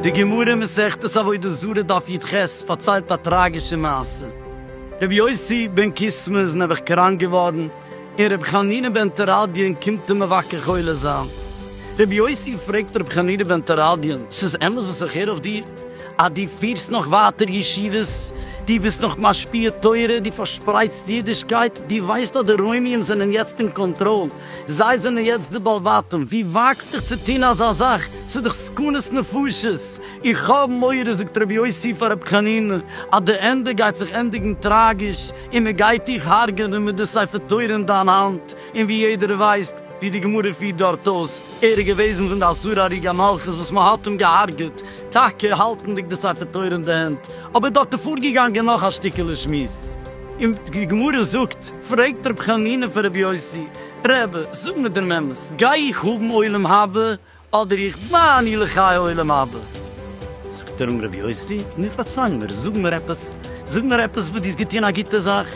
די גמרא מסכת עבודה זרה דף יט ח פארציילט א טראגישע מעשה. רבי יוסי בן קיסמא איז נעבעך קראנק געווארן, און רבי חנינא בן תרדיון קומט אים מבקר חולה זיין. רבי יוסי פרעגט רבי חנינא בן תרדיון, ס'איז אמת וואס איך הער אויף דיר? אז דו פירסט נאך ווייטער ישיבות, דו ביסט נאך משפיע תורה, דו פארשפרייטסט אידישקייט, דו ווייסט אז די רוימיים זענען יעצט אין קאנטראל, זיי זענען יעצט די בעל בתים, ווי וואגסט דיך צו טון אזא זאך, ס'איז דאך סכנת נפשות, איך האב מורא זאגט רבי יוסי פאר רבי חנינא אז די ענדע גייט זיך ענדיגן טראגיש און מען גייט דיך הרג'נען מיט די ספר תורה אין דיין האנט, און ווי יעדער ווייסט, ווי די גמרא פירט דארט אויס, ער איז געוועזן פון די אסורי הריגה המלכות וואס מען האט אים געהארגעט, טאקע האלטנדיג די ספר תורה אין די הענט, אבער דארט איז פארגעגאנגען נאך א שטיקעלע שמועס, און די גמרא זאגט, פרעגט רבי חנינא פון רבי יוסי, רבי, זאג מיר דעם אמת, גיי איך האבן עולם הבא אדער איך בה אני לחיי עולם הבא. זאגט ער אים רבי יוסי, נו פארציי מיר, זאג מיר עפעס, זאג מיר עפעס וואס דו האסט געטון א גוטע זאך.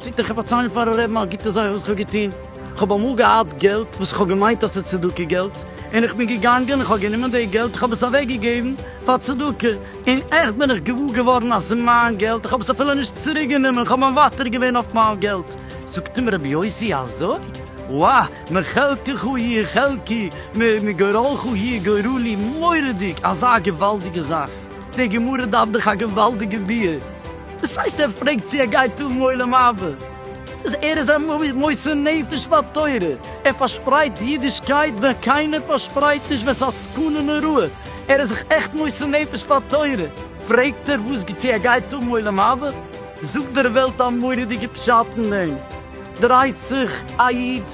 זאגט ער, איך וועל פארציילן פארן רעבן א גוטע זאך וואס איך האב געטון, איך האב אמאל געהאט געלט וואס איך האב געמיינט אז ס'איז צדקה געלט, און איך בין געגאנגען איך האב גענומען די געלט איך האב עס אוועק געגעבן פאר צדקה, און עכט בין איך געוואר געווארן אז ס'איז מיין געלט, איך האב עס אפילו נישט צוריק גענומען, איך האב מוותר געווען אויף מיין געלט. זאגט אים רבי יוסי, אזוי? וואה! מחלקך היא חלקי, מגורלך היא גורלי, מורא'דיג! אזא געוואלדיגע זאך! די גמרא דארף דאך א געוואלדיגע ביאור! וואס הייסט ער פרעגט צו ער גייט האבן עולם הבא? דאס ער איז א מוסר נפש פאר תורה, ער פארשפרייט אידישקייט ווען קיינער פארשפרייט נישט ווען ס'איז א סכנה נוראה, ער איז זיך עכט מוסר נפש פאר תורה, פרעגט ער וואס צו ער גייט האבן עולם הבא? זאגט דער וועלט א מורא'דיגע פשט אין דעם. דרייט זיך א איד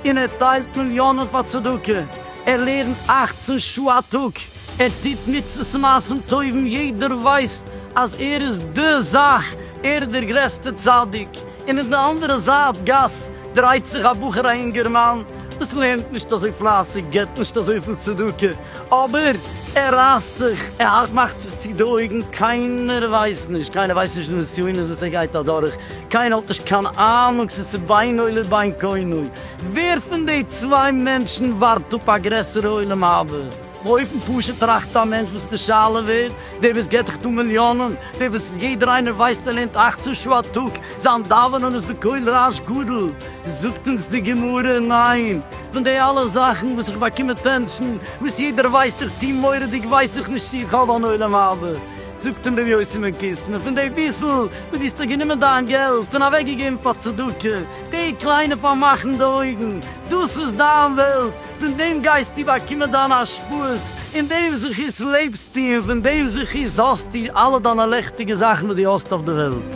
און ער טיילט מיליאנען פאר צדקה, ער לערנט אכצן שעה א טאג, ער טוט מצוות מעשים טובים, יעדער ווייסט אז ער איז די זאך, ער איז דער גרעסטער צדיק, און אין די אנדערע זייט גאס דרייט זיך א בחור א אינגערמאן וואס לערנט נישט אזוי פלייסיג, געבט נישט אזויפיל צדקה, אבער ער רייסט זיך, ער מאכט זיך צו די אויגן, קיינער ווייסט נישט, קיינער ווייסט נישט די נסיונות וואס ער גייט אדורך, קיינער האט נישט קיין אהנונג צו צו בינו לבין קונו ווער פון די צוויי מענטשן ווארט אפ א גרעסערע עולם הבא. באופן פשוט טראכט א מענטש וואס די שאלה ווערט, דער וואס געבט דאך דא מיליאנען, דער וואס יעדער איינער ווייסט ער לערנט אכצען שעה א טאג, זיין דאווענען איז בקול רעש גדול, זאגט אונז די גמרא, ניין, פון די אלע זאכן וואס איך באקום אטענטשן, וואס יעדער ווייסט איך טוה מורא'דיג ווייס איך נישט צו איך האב אן עולם הבא, זאגט אים ר' יוסי מען קיסט מיר פון די פיסל וואס דו האסט דאך גענומען דיין געלט און אוועק געגעבן פאר צדקה, די קליינע פארמאכן די אויגן, דאס איז דיין וועלט, פון דעם גייסטו באקומען דיינע השפעות, אין דעם זכות לעבסטו און פון דעם זכות האסטו אלע דיינע לעכטיגע זאכן וואס דו האסט אויף די וועלט.